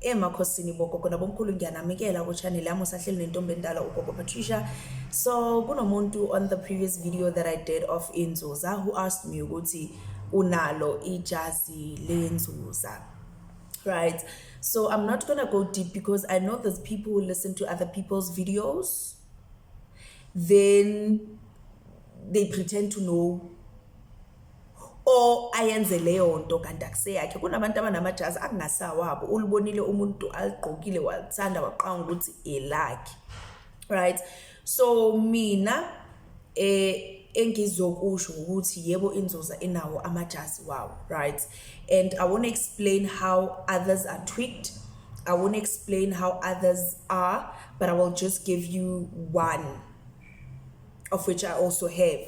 emakhosini bogogo nabomkhulu ngiyanamikela kuchannel yami usahleli nentombi endala ugogo patricia so kunomuntu on the previous video that i did of inzuza who asked me ukuthi unalo ijazi lenzuza right so i'm not gonna go deep because i know there's people who listen to other people's videos then they pretend to know o ayenze leyo nto kanti akuseyakhe kunabantu abanamajazi akungasawabo ulibonile umuntu aligqokile walithanda waqanga ukuthi elakhe right so mina eh engizokusho ukuthi yebo inzoza inawo amajazi wawo right and i won't explain how others are tweaked i won't explain how others are but i will just give you one of which I also have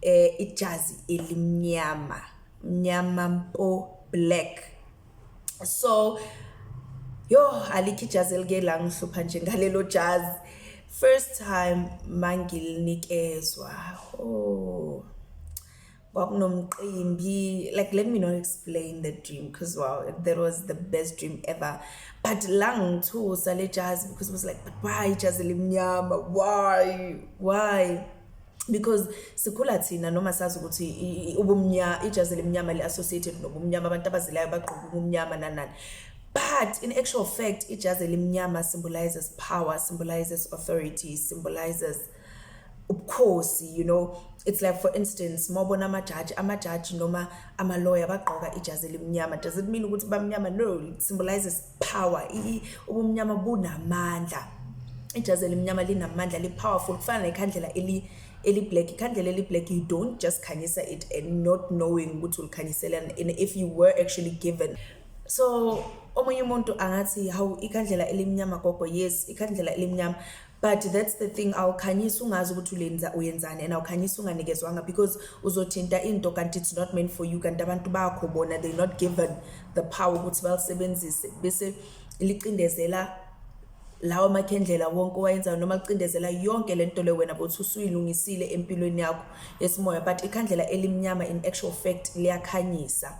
eh ijazi elimnyama mnyama mpo black so yo alikho ijazi elike la ngihlupha nje ngalelo jazi first time mangilinikezwa oh kwakunomqimbi like let me not explain the dream because wow that was the best dream ever but la ngithusa le jazi because it was like but why ijazi elimnyama why why because sikhula thina noma sazi ukuthi ubumnyama ijazi elimnyama li-associated nobumnyama abantu abazilayo bagqoka ubumnyama nanani but in actual fact ijazi elimnyama symbolizes power symbolizes authority symbolizes ubukhosi you know it's like for instance mawubona amajaji amajaji noma amaloya bagqoka ijazi elimnyama does it mean ukuthi bamnyama no it symbolizes power ubumnyama bunamandla ijazi elimnyama linamandla li-powerful kufana nekhandlela eli eli-black ikhandlela eli-black you don't just khanyisa it and not knowing ukuthi ulikhanyiselana and if you were actually given so omunye umuntu angathi hawu ikhandlela elimnyama gogo yes ikhandlela elimnyama but that's the thing awukhanyisi ungazi ukuthi ulenza uyenzani and awukhanyisi unganikezwanga because uzothinta into kanti it's not meant for you kanti abantu bakho bona they not given the power ukuthi balisebenzise bese licindezela lawa makhendlela wonke owayenzayo noma licindezela yonke le nto le wena bothi usuyilungisile empilweni yakho yesimoya but ikhandlela elimnyama in actual fact liyakhanyisa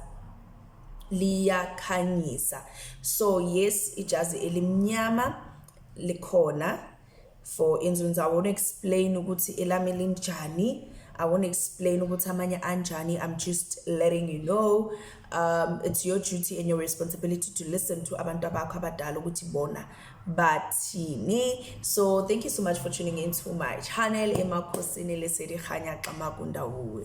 liyakhanyisa so yes ijazi elimnyama likhona for instance i won't explain ukuthi elami linjani i won't explain ukuthi amanye anjani i'm just letting you know um it's your duty and your responsibility to listen to abantu abakho abadala ukuthi bona bathini so thank you so much for tuning in to my channel emakhosini lesedihanya xamakundawuwe